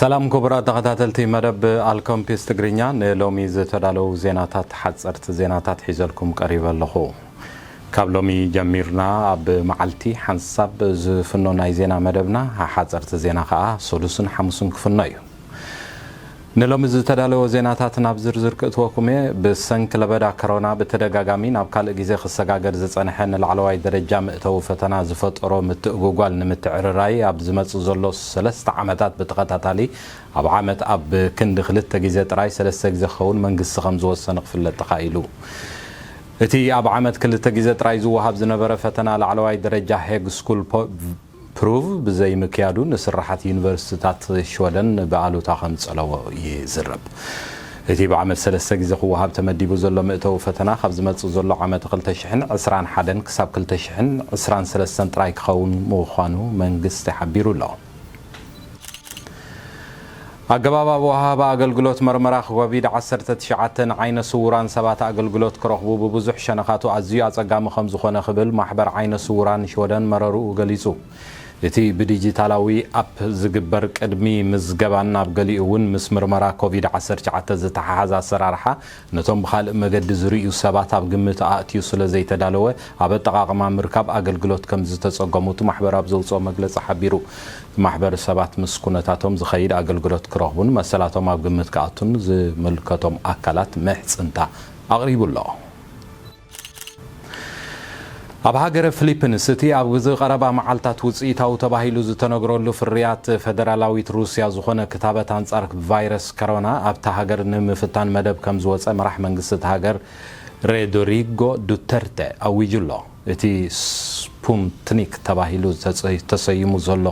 ሰላም ኩቡራት ተኸታተልቲ መደብ ኣልከምፒስ ትግርኛ ንሎሚ ዝተዳለው ዜናታት ሓጸርቲ ዜናታት ሒዘልኩም ቀሪበ ኣለኹ። ካብ ሎሚ ጀሚርና ኣብ መዓልቲ ሓንሳብ ዝፍኖ ናይ ዜና መደብና ሓጸርቲ ዜና ከኣ ሰሉስን ሓሙስን ክፍኖ እዩ። ንሎሚ ዝተዳለወ ዜናታት ናብ ዝርዝር ክእትወኩም እየ። ብሰንኪ ለበዳ ከሮና ብተደጋጋሚ ናብ ካልእ ግዜ ክሰጋገር ዝጸንሐ ንላዕለዋይ ደረጃ ምእተዊ ፈተና ዝፈጠሮ ምትእጉጓል ንምትዕርራይ ኣብ ዝመጽእ ዘሎ ሰለስተ ዓመታት ብተኸታታሊ ኣብ ዓመት ኣብ ክንዲ ክልተ ግዜ ጥራይ ሰለስተ ግዜ ክኸውን መንግስቲ ከም ዝወሰነ ክፍለጥ ተኻኢሉ። እቲ ኣብ ዓመት ክልተ ግዜ ጥራይ ዝወሃብ ዝነበረ ፈተና ላዕለዋይ ደረጃ ሄግ ስኩል ፕሩቭ ብዘይምክያዱ ንስርሓት ዩኒቨርሲቲታት ሽወደን ብኣሉታ ከም ዝጸለዎ ይዝረብ። እቲ ብዓመት ሰለስተ ግዜ ክወሃብ ተመዲቡ ዘሎ ምእተዊ ፈተና ካብ ዝመጽእ ዘሎ ዓመተ ክልተ ሽሕን ዕስራን ሓደን ክሳብ ክልተ ሽሕን ዕስራን ሰለስተን ጥራይ ክኸውን ምዃኑ መንግስቲ ሓቢሩ ኣሎ። ኣገባብ ኣወሃህባ ኣገልግሎት መርመራ ኮቪድ ዓሰርተ ትሽዓተ ንዓይነ ስዉራን ሰባት ኣገልግሎት ክረኽቡ ብብዙሕ ሸነኻቱ ኣዝዩ ኣጸጋሚ ከምዝኾነ ክብል ማሕበር ዓይነ ስዉራን ሽወደን መረርኡ ገሊጹ። እቲ ብዲጂታላዊ ኣፕ ዝግበር ቅድሚ ምዝገባን ኣብ ገሊኡ እውን ምስ ምርመራ ኮቪድ ዓሰርተ ትሽዓተ ዝተሓሓዝ ኣሰራርሓ ነቶም ብኻልእ መገዲ ዝርእዩ ሰባት ኣብ ግምት ኣእትዩ ስለዘይተዳለወ ኣብ ኣጠቓቕማ ምርካብ ኣገልግሎት ከምዝተፀገሙ እቲ ማሕበር ኣብ ዘውፅኦ መግለፂ ሓቢሩ። እቲ ማሕበር ሰባት ምስ ኩነታቶም ዝኸይድ ኣገልግሎት ክረኽቡን መሰላቶም ኣብ ግምት ክኣቱን ዝምልከቶም ኣካላት ምሕፅንታ ኣቕሪቡ ኣሎ። ኣብ ሃገረ ፍሊፕንስ እቲ ኣብ ግዝ ቐረባ መዓልታት ውጽኢታዊ ተባሂሉ ዝተነግረሉ ፍርያት ፈደራላዊት ሩስያ ዝኾነ ክታበት ኣንጻር ቫይረስ ከሮና ኣብታ ሃገር ንምፍታን መደብ ከም ዝወጸ መራሕ መንግስቲ እታ ሃገር ሬዶሪጎ ዱተርተ ኣዊጁ'ሎ። እቲ ስፑምትኒክ ተባሂሉ ተሰይሙ ዘሎ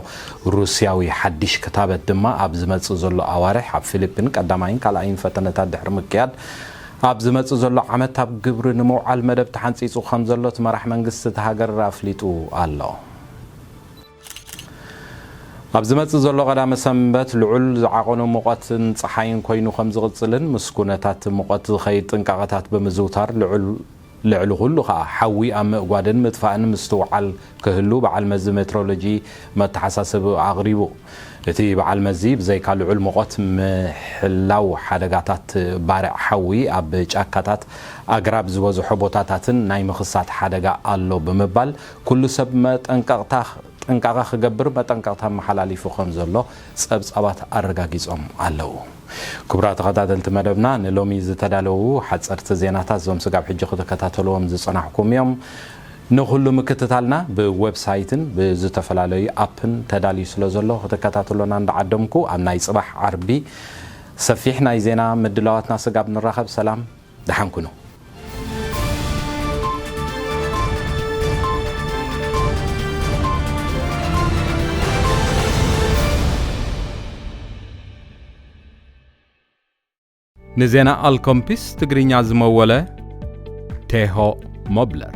ሩስያዊ ሓዲሽ ክታበት ድማ ኣብ ዝመጽእ ዘሎ ኣዋርሕ ኣብ ፍሊፕን ቀዳማይን ካልኣይን ፈተነታት ድሕሪ ምክያድ ኣብ ዝመጽእ ዘሎ ዓመት ኣብ ግብሪ ንምውዓል መደብ ተሓንጺጹ ከምዘሎ እቲ መራሕ መንግስቲ እታ ሃገር ኣፍሊጡ ኣሎ። ኣብ ዝመጽእ ዘሎ ቀዳመ ሰንበት ልዑል ዝዓቐኑ ሙቐትን ጸሓይን ኮይኑ ከምዝቕጽልን ምስ ኩነታት ሙቐት ዝኸይድ ጥንቃቐታት ብምዝውታር ልዑል ልዕሊ ኩሉ ከኣ ሓዊ ኣብ ምእጓድን ምጥፋእን ምስትውዓል ክህሉ በዓል መዚ ሜትሮሎጂ መተሓሳሰቢኡ ኣቕሪቡ። እቲ በዓል መዚ ብዘይካ ልዑል ሙቐት ምሕላው ሓደጋታት ባርዕ ሓዊ ኣብ ጫካታት ኣግራብ ዝበዝሖ ቦታታትን ናይ ምኽሳት ሓደጋ ኣሎ ብምባል ኩሉ ሰብ መጠንቀቕታ ጥንቃቐ ክገብር መጠንቀቕታ ኣመሓላሊፉ ከምዘሎ ጸብጻባት ኣረጋጊጾም ኣለዉ። ክቡራት ተኸታተልቲ መደብና ንሎሚ ዝተዳለዉ ሓጸርቲ ዜናታት እዞም ስጋብ ሕጂ ክትከታተልዎም ዝጸናሕኩም እዮም። ንኹሉ ምክትታልና ብወብሳይትን ብዝተፈላለዩ ኣፕን ተዳልዩ ስለ ዘሎ ክትከታተሉና እንዳዓደምኩ ኣብ ናይ ጽባሕ ዓርቢ ሰፊሕ ናይ ዜና ምድላዋትና ስጋብ ንራኸብ ሰላም ደሓን ኩኑ። ንዜና ኣልኮምፒስ ትግርኛ ዝመወለ ቴሆ ሞብለር።